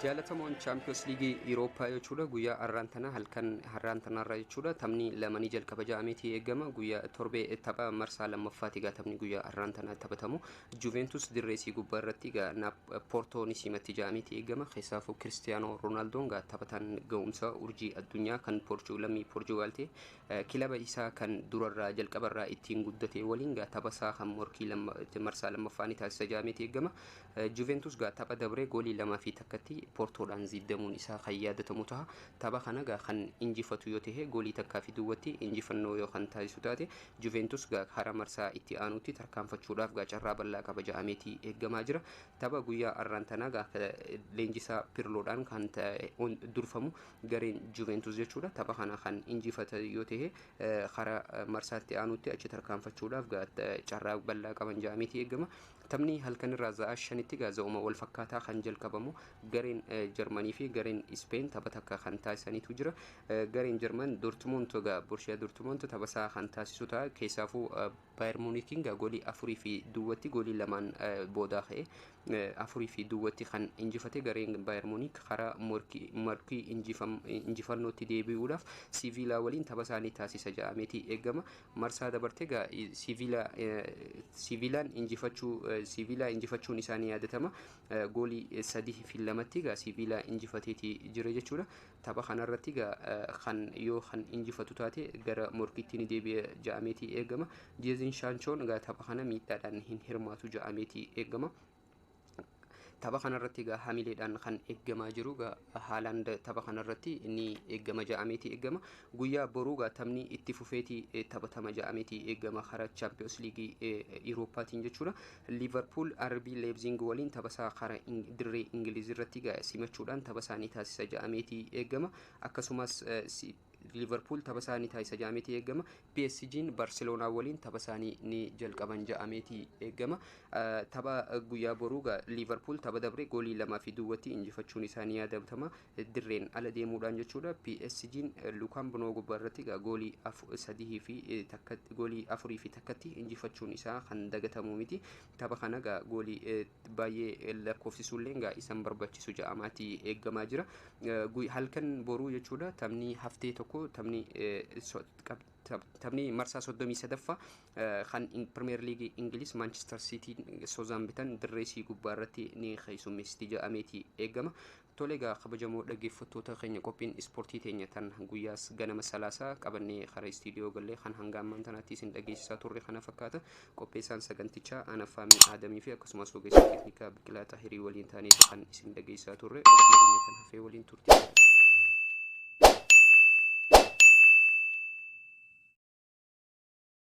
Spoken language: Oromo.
Jaalatamoon Chaampiyoons Liigii Iwurooppaa jechuudha guyyaa har'aan tana halkan har'aan tanaarraa jechuudha taphni lamanii jalqaba ja'ameetii eegama guyyaa torbee tapha marsaa lammaffaati egaa taphni guyyaa har'aan tana taphatamu Juventus dirree isii gubbaa irratti egaa naaf Poortoo ni simatti ja'ameetii eegama keessaafuu Kiristiyaanoo Roonaaldoon egaa taphataan ga'umsa urjii addunyaa kan Poorchuu lammii Poorchugaal ta'e eh, kilaba isaa kan durarraa jalqabarraa ittiin guddate waliin egaa tapha isaa kan morkii lamma- marsaa lammaffaa ni taasisa ja'ameetii eegama Juventus gaa tapha dabree goolii 2 fi 1tti Portoodhaan ziiddamuun isaa kan yaadatamu taha. Tapha kana gaa kan injifatu yoo tahe goolii takkaa fi duwwatti injifannoo yoo kan taasisu taate Juventus gaa hara marsaa itti aanuutti tarkaanfachuudhaaf gaa carraa bal'aa qaba ja'ameeti eeggamaa jira. Tapha guyyaa arraan tanaa gaa leenjisaa Pirloodhaan kan durfamu gareen Juventus jechuudha. Tapha kana kan injifata yoo tahe hara marsaa itti aanuutti achi tarkaanfachuudhaaf gaa carraa bal'aa qaban ja'ameeti eeggama. Taphni halkanirraa za'aa shanitti egaa za'uma wal fakkaataa kan jalqabamu gareen Jarmanii fi gareen Ispeen tapha takka kan taasisaniitu jira. Gareen Jarman Dortmund egaa Borshiyaa Dortmund taphasaa kan taasisu ta'a. Keessaafuu Baayir Muunikiin egaa goolii afurii fi duwwatti goolii lamaan boodaa ka'e afurii fi duwwatti kan injifate gareen Baayir Muunik karaa morkii injifannootti deebi'uudhaaf Siviilaa waliin taphasaa ni taasisa ja'ameeti eegama. marsaa dabarte egaa Siiviilaa Siiviilaan injifachuu Siiviilaa injifachuun isaa ni yaadatama. Goolii sadii fi lamatti egaa Siiviilaa injifateeti jira jechuudha. Tapha kanarratti egaa kan yoo kan injifatu taate gara morkiitti ni deebi'a ja'ameeti eegama. Jeezin Shaanchoon egaa tapha kana miidhaadhaan hin hirmaatu ja'ameeti eegama. Tapha kanarratti egaa hamileedhaan kan eeggamaa jiru egaa Haalaand tapha kanarratti ni eeggama ja'ameeti eeggama. Guyyaa boruu egaa taphni itti fufeeti eh, taphatama ja'ameeti eeggama karaa Chaampiyoons Liigii eh, Iwurooppaatiin jechuudha. Liivarpuul RB Leebziing waliin tapha isaa karaa Ing- dirree Ingiliiz irratti egaa simachuudhaan tapha isaanii taasisa ja'ameeti eeggama. Akkasumas eh, si- Liverpool tapha isaanii taasisa ja'ameeti eegama. PSG'n Barcelona waliin tapha isaanii ni jalqaban ja'ameeti eegama. Tapha guyyaa boruu gaa Liverpool tapha dabre goolii lamaa fi duwwatti injifachuun isaa ni yaadatama. Dirreen ala deemuudhaan jechuudha. PSG'n Lukaan Bunoo gubbaa irratti gaa goolii sadii fi takka goolii afurii fi takkatti injifachuun isaa kan dagatamu miti. Tapha kana gaa goolii baay'ee lakkoofsisuulleen gaa isan barbachisu ja'amaati eeggamaa jira. Halkan boruu jechuudha taphni haftee tokko taphni taphni marsaa 33ffaa kan Pirimeer Liigii Ingiliz Maanchister Siitiin Sozaambitan dirree isii gubbaa irratti ni keessummeessiti ja'ameeti eeggama. Tole egaa kabajamoo dhaggeeffattoota keenya qophiin ispoortii teenya tan guyyaas ganama salaasaa qabannee karaa istiidiyoo gallee kan hanga ammaan tanaatti isin dhageessisaa turre kana fakkaata qopheessaan sagantichaa Anaffaamii Aadamii fi akkasumas ogeessa teeknikaa Biqilaa Xahirii waliin taanee kan isin dhageessisaa turre qophii keenya kan hafee waliin turte.